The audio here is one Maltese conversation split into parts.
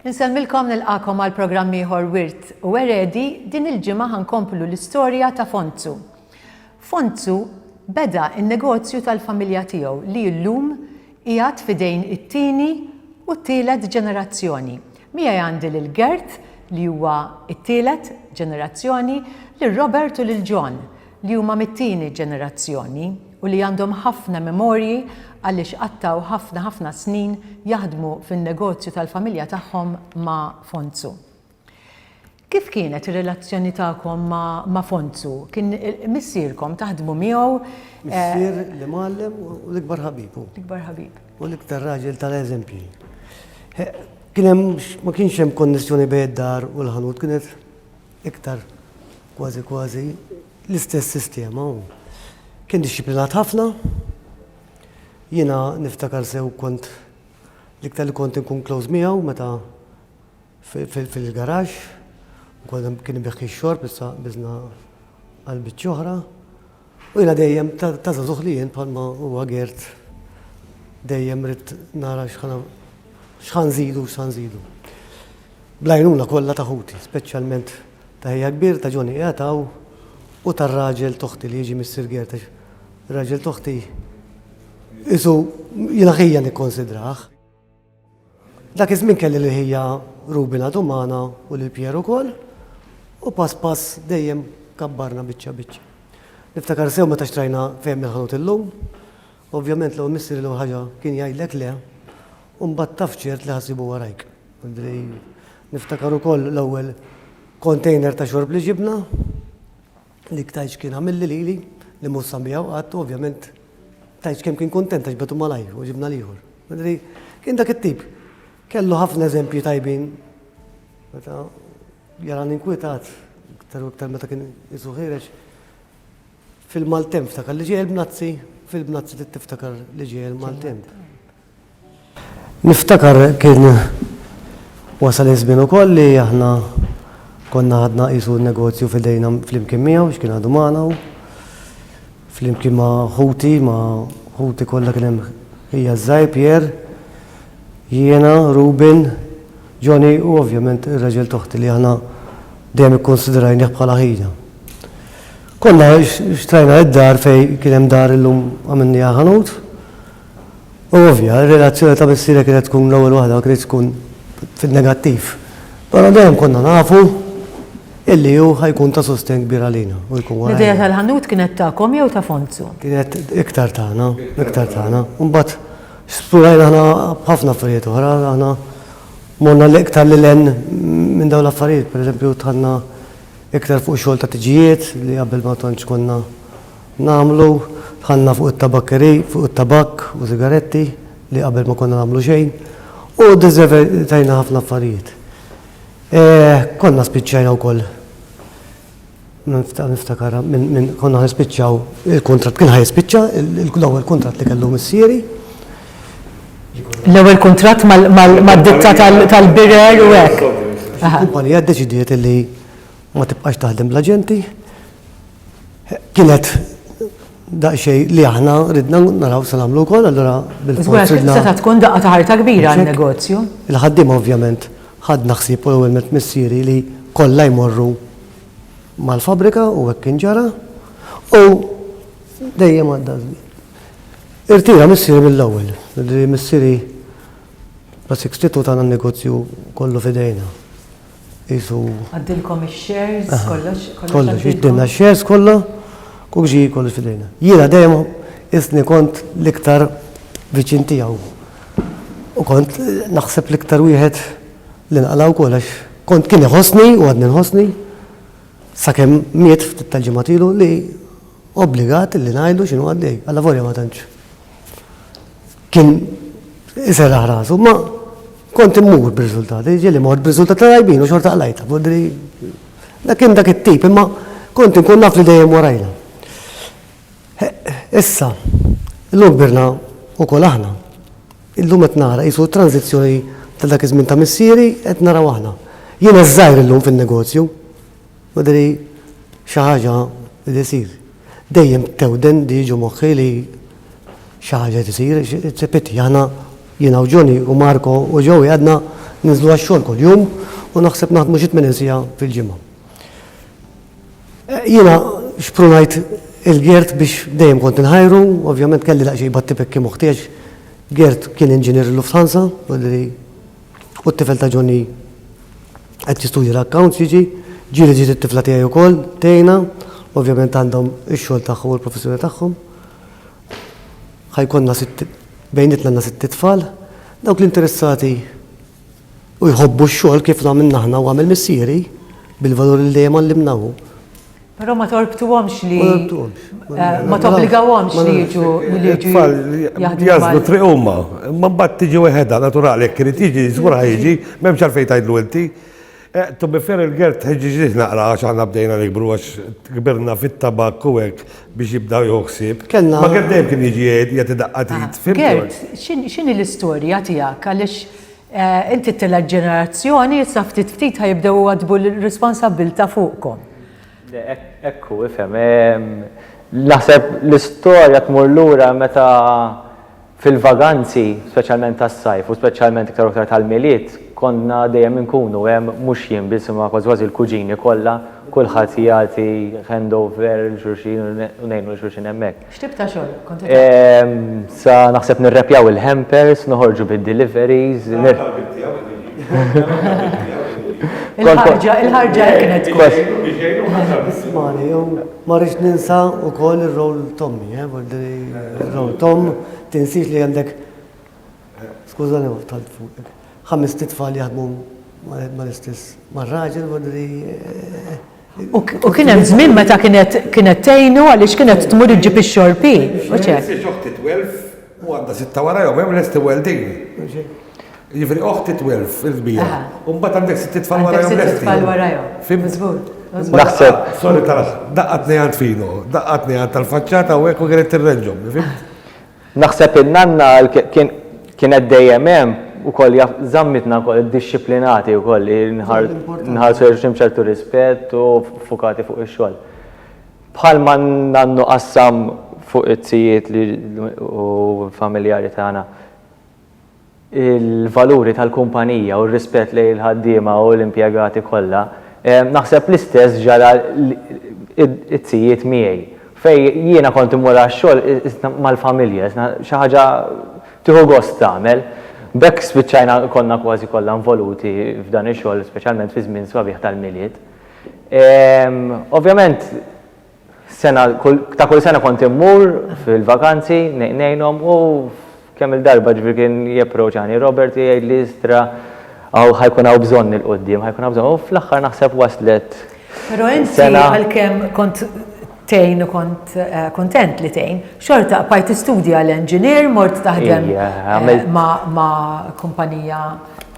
Insellmilkom nilqakom għal programm ieħor Wirt u Eredi din il-ġimgħa ħankomplu l-istorja ta' Fonzu. Fonzu beda n-negozju tal-familja tiegħu li llum qiegħed fidejn it-tieni u t-tielet ġenerazzjoni. Miegħi għandi lil Gert li huwa t-tielet ġenerazzjoni, lil Robert u lil John li huma mit-tieni ġenerazzjoni u li għandhom ħafna memorji għaliex qattgħu ħafna ħafna snin jaħdmu fin-negozju tal-familja tagħhom ma' Fonzu. Kif kienet ir-relazzjoni tagħkom ma' Fonzu? Kien missierkom, taħdmu miegħu? Missier li mgħallem u l-ikbar ħabib hu. L-ikbar ħabib. U l-iktar raġel tal-eżempji. Kien hemm ma kienx hemm konnessjoni bejn id-dar u l-ħanut, kienet Iktar kważi kważi l-istess sistema hu. Kien dixxiplinat ħafna. Jiena niftakar sew kont l-iktar li kont inkun close miegħu meta fil-garaxx, kien ibiħħi x-xorb issa biżna għal biċċa oħra. U jiena dejjem ta' żagħżugħ li jien bħal ma huwa Gerd dejjem ridt nara x'ħa nżidu u x'ħa nżidu. Bl-għajnuna kollha ta' ħuti, speċjalment ta' ħija kbir ta' Johnny qiegħed hawn u tar-raġel t'oħti li jiġi missier Gerd għax ir-raġel t'oħti qisu jien aħija nikkonsidrah. Dak iż-żmien kelli lil ħija Ruby ngħadu magħna u lil Pierre ukoll, u pass pass dejjem kabbarna biċċa biċċa. Niftakar sew meta xtrajna ferm il-ħanut illum. Ovvjament l-ewwel missieri l-ewwel ħaġa kien jgħidlek le, u mbagħad taf ċert li ħa ssibu warajk. Niftakar ukoll l-ewwel container ta' xorb li ġibna. Dik tgħidx kien għamilli lili li mhux sa miegħu qatt u ovvjament tgħidx kemm kien kuntent għax betu malajr u ġibna l-ieħor. Madri, kien dak it-tip. Kellu ħafna eżempji tajbin. Meta jara ninkwitat, iktar u iktar meta kien isu ħirex, fil-maltemp ftakar li ġejjel bnazzi, fil-bnazzi tiftakar li ġejjel maltemp. Niftakar kien wasal iż-żmien ukoll li aħna konna ħadna qisu n-negozju f'idejna flimkien miegħu għax kien għadu magħna hu. Flimkien ma' ħuti, ma' ħuti kollha kien hemm ħija ż-żgħir Pierre, jiena, Ruben, Johnny u ovvjament ir-raġel t'oħti li aħna dejjem ikkunsidrajnih bħala ħina. Konna xtrajna d-dar fejn kien hemm dar illum għamilniha ħanut. Hu ovvja, ir-relazzjoni ta' missierek kienet tkun l-ewwel waħda ma kinitx tkun fin-negattiv. Però dejjem konna nafu illi hu ħa jkun ta' sostenn kbir għalina u jkun warajna. L-idea tal-ħanut kienet tagħkom jew ta' Fonzu? Kienet iktar tagħna, iktar tagħna. Imbagħad splorajna aħna b'ħafna affarijiet oħra, aħna morna l-iktar lil hinn minn dawn l-affarijiet. Pereżempju dħalna iktar fuq xogħol ta' tiġijiet li qabel ma tantx konna Nagħmlu, dħalna fuq it-tabakkeri, fuq it-tabakk u sigaretti li qabel ma konna nagħmlu xejn u ddiżevetajna ħafna affarijiet. Konna spiċċajna wkoll niftakar minn konna ħanispiċċaw il-kuntratt kien ħajspiċċa l-ewwel kuntratt li kellu missieri. L-ewwel kuntratt mad-ditta tal-birer u hekk. Il-kumpanija ddeċidiet li ma tibqax taħdem bl-aġenti. Kienet daqsxejn li aħna ridna naraw se nagħmlu wkoll, allura bil-fors ridna. Żgur, setgħet tkun daqqa ta' ħarta kbira għan-negozju. Il-ħaddiema ovvjament ħadna ħsieb u l-ewwel nett missieri li kollha jmorru mal-fabbrika u hekk kien ġara u dejjem għadda żmien. Irtira missieri mill-ewwel, missieri bla 62 tagħna n-negozju kollu f'idejna. qisu. Għaddilkom ix-shares, kollox, kollox. Kollox, jiġdilna x-shares kollha, u ġie kollox f'idejna. Jiena dejjem qisni kont l-iktar viċin tiegħu. U kont naħseb l-iktar wieħed li nqala' wkoll għax kont kien iħossni u għadni nħossni sakemm miet ftit tal-ġimgħat ilu li obbligat li ngħidlu x'inhu għaddej, allavolja ma tantx. Kien iserraħ rasu, ma kont immur b'riżultati, ġieli mort b'riżultati tajbin u xorta qlajta, bodri. Dak kien dak it-tip, imma kont inkun naf li dejjem warajna. Issa, illum birna u kol aħna. Illum qed nara qisu tranzizzjoni ta' dak iż-żmien ta' missieri qed naraw aħna. Jiena żgħir illum fin-negozju, bodri xi ħaġa li jsir Dejjem tewden li jiġu moħħi li xi ħaġa qed isir, it's a pity. Aħna, jiena u Johnny u Marco u Joey għadna ninżlu għax-xogħol kuljum u naħseb naħdmu xi tmenin siegħa fil-ġimgħa. Jiena xprunajt il-Gert biex dejjem kont inħajru, ovvjament kelli daqsxejn batti-pekki moħħ tiegħi għax Gert kien inġinier il-Lufthansa, U t-tifel ta' Johnny qed jistudja l-accounts jiġi, ġieli ġiet it-tifla tiegħi wkoll tgħinha, ovvjament għandhom ix-xogħol tagħhom u l-professjoni tagħhom. Ħa jkollna sitt bejnietna għandna sitt itfal. Dawk li interessati u jħobbu x-xogħol kif għamilna aħna u għamel missieri bil-valuri li dejjem għallimna hu. Però ma torbtuhomx li. Ma tobbligawhomx li jiġu li jiġu. Jażlu triq huma, imma mbagħad tiġi weħedha naturali jekk irid jiġi żgur jiġi, m'hemmx għalfejn tgħidlu inti. Eh, to be fair il-gert tħeġġiġ naqra għax aħna bdejna nikbru għax kbirna fit-tabak u hekk biex jibdaw joħsib. Kenna. Ma gert dejjem kien jiġi jgħid jagħti daqqatit. Ah, gert, x'inhi l-istorja tiegħek għaliex Inti t-tielet ġenerazzjoni, issa ftit ftit ħa jibdew iwaddbu l-responsabbiltà fuqkom. Hekk hu, ifhem. Naħseb l-istorja tmur lura meta fil-vaganzi, speċjalment tas-sajf u speċjalment iktar u iktar tal-Milied, konna dejjem inkunu hemm, mhux jien biss imma kważi kważi l-kuġini kollha, kulħadd jagħti handover lil xulxin u ngħinu lil xulxin hemmhekk. X'tip ta' xogħol kont qed ehm, Sa naħseb nirrepjaw il-hampers, noħorġu bid-deliveries. Il-ħarġa, il-ħarġa kienet kos. Ismani, jew ma rridx ninsa wkoll ir-rol Tommy, eh, ir-rol Tom tinsix li għandek skużani ma tal fuq. Ħames titfal jaħdmu mal-istess mar-raġel, eh, U kien hemm żmien meta kienet kienet tgħinu għaliex kienet tmur iġġib ix-xorb hi. Mhux hekk? Mhux hekk, oħti twelf u għandha sitta wara jew hemm lest iweldin. Mhux hekk? Jiġifieri oħti twelf il-kbira. Aha. U mbagħad għandek sitt tfal wara jew lest. Għandek sitt tfal wara jew. Fim? Miżbut. Naħseb. Sorry tal-aħħar. Daqqatni għand fino, daqqatni għand tal-faċċata u hekk u kienet tirreġġhom. Fimt? Naħseb in-nanna kienet dejjem hemm ukoll jaf żammitna wkoll iddixxiplinati wkoll li nħarsu lejn xulxin b'ċertu rispett u ffukati fuq ix-xogħol. Bħalma n-nannu qassam fuq it-tijiet li u l-familjari tagħna, il-valuri tal-kumpanija u r-rispett lejn il-ħaddiema u l-impjegati kollha, naħseb l-istess ġara t-tzijiet miegħi fejn jiena kont immur għax-xogħol mal-familja, xi ħaġa tieħu gost tagħmel. B'hekk spiċċajna konna kważi kollha involuti f'dan ix-xogħol speċjalment fiż-żmien sbabieħ tal-Milied. Ovvjament, Sena, ta' kull sena kont immur fil-vakanzi, nejnhom u kemm il-darba ġifieri kien japproċani Robert jgħid li istra għaw ħajkun hawn bżonn il-qudiem, ħajkun hawn bżonn u fl-aħħar naħseb waslet. Però inti għalkemm kont tgħin u kont eh, kuntent li tgħin, xorta qbajt tistudja l-engineer, mort taħdem eh, ma' kumpanija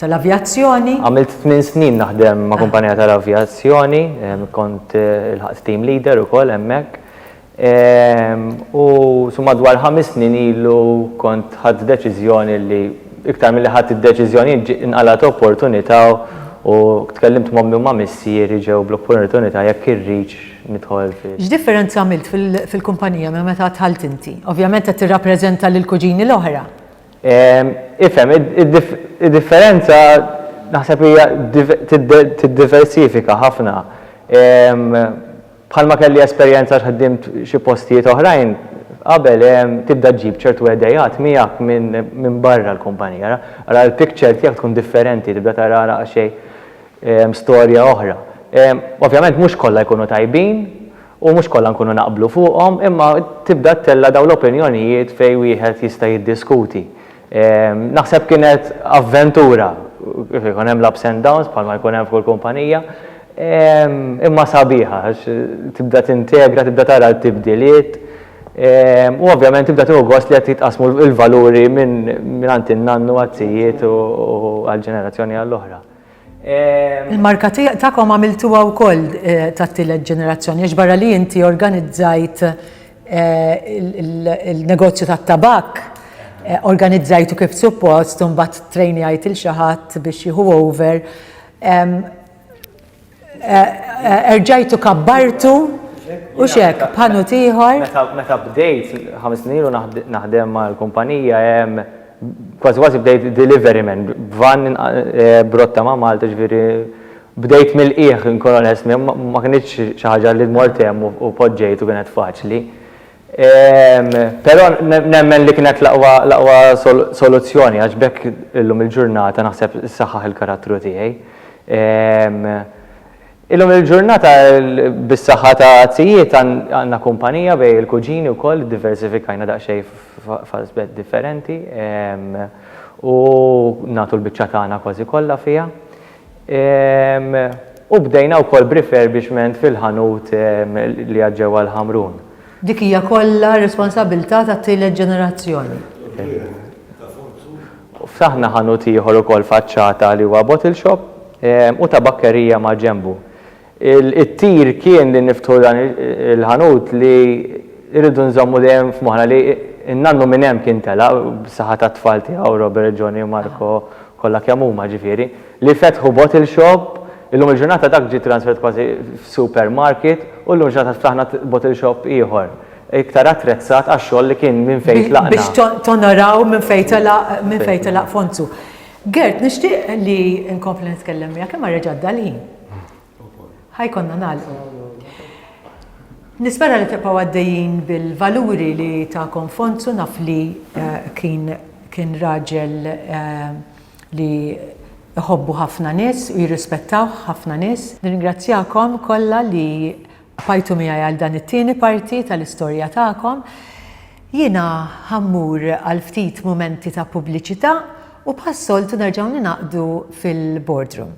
tal-avjazzjoni. Għamilt tmien snin naħdem ma' kumpanija tal-avjazzjoni, kont ilħaqt team leader ukoll hemmhekk. U su madwar ħames snin ilu kont ħadt deċiżjoni li iktar milli ħadt id-deċiżjoni ġi inqalgħet opportunità u tkellimt m'ommi u ma' missieri ġew bl-opportunità jekk irridx nidħol fi. X'differenza għamilt fil-kumpanija minn meta dħalt inti? Ovvjament qed tirrappreżenta lill-kuġini l-oħra. Ifhem, id-differenza naħseb hija tiddiversifika ħafna. Bħalma kelli esperjenza għax ħdimt xi postijiet oħrajn qabel, tibda ġġib ċertu idejat miegħek minn barra l-kumpanija. Ara l-picture tiegħek tkun differenti, tibda tara daqsxejn storja oħra. Ovvjament mhux kollha jkunu tajbin, u mhux kollha nkunu naqblu fuqhom, imma tibda ttella' dawn l-opinjonijiet fejn wieħed jista' jiddiskuti. Naħseb kienet avventura, ikun hemm l-ups and downs bħalma jkun hemm f'kull kumpanija, imma sabiħa għax tibda tintegra, tibda tara t-tibdiliet, u ovvjament tibda tieħu gost li qed jitqassmu l-valuri mingħand in-nannu għat-tijiet u għall-ġenerazzjoni għall-oħra. Il-marka tagħkom għamiltuha wkoll eh, tat-tielet ġenerazzjoni għax barra li inti organizzajt eh, il-negozju tat-tabak eh, organizzajtu kif suppost u mbagħad trejnjajt il xi ħadd biex jieħu over. Erġajtu kabbartu U xek, bħannu tiħor? Meta bdejt, ħames snin u naħdem mal-kumpanija, Kważi kważi bdejt delivery man, b'vann b'rotta ma' Malta, ġifieri bdejt mill-qiegħ inkun onest, ma kinitx xi ħaġa li mort hemm u poġġejt u kienet faċli. Però nemmen li kienet l-aqwa soluzzjoni għax b'hekk illum il-ġurnata naħseb issaħħaħ il-karattru tiegħi. Illum il-ġurnata bis-saħħa ta' zijiet għandna kumpanija bejn il-kuġini wkoll, iddiversifikajna daqsxejn f'aspett differenti u nagħtu l-biċċa tagħna kważi kollha fiha. U bdejna wkoll b'refurbishment fil-ħanut li għad ġewwa l-Ħamrun. Dik hija kollha r-responsabbiltà tat-tielet ġenerazzjoni. Ftaħna ħanut ieħor ukoll faċċata li huwa bottle shop u tabakkerija maġenbu. Il-qtir kien li niftħu dan il-ħanut li rridu nżommu dejjem f'moħħna li n-nannu minn hemm kien telaq, bis-saħħa tat-tfal tiegħu Robert, Johnny u Marco, kollha kemm huma ġifieri, li fetħu bottle shop, illum il-ġurnata dak ġie transferwt kważi f'supermarket u llum il-ġurnata ftaħna bottle shop ieħor. iktar attrezzat għax-xogħol li kien minn fejn tlaqna. Biex tonoraw minn fejn telaq, minn fejn telaq Fonzu. Gert, nixtieq li nkompli nitkellem miegħek imma reġa' għadda l-ħin. Ħajkonna nagħlqu. Nispera li tibqgħu għaddejjin bil-valuri li tagħkom Fonzu naf li kien kien raġel li jħobbu ħafna nies u jirrispettawh ħafna nies. Nirringrazzjakom kollha li Fajtu miegħi għal dan it-tieni parti tal-istorja tagħkom. Jiena ħa mmur għal ftit mumenti ta' pubbliċità u bħas-soltu nerġgħu ningħaqdu fil-boardroom.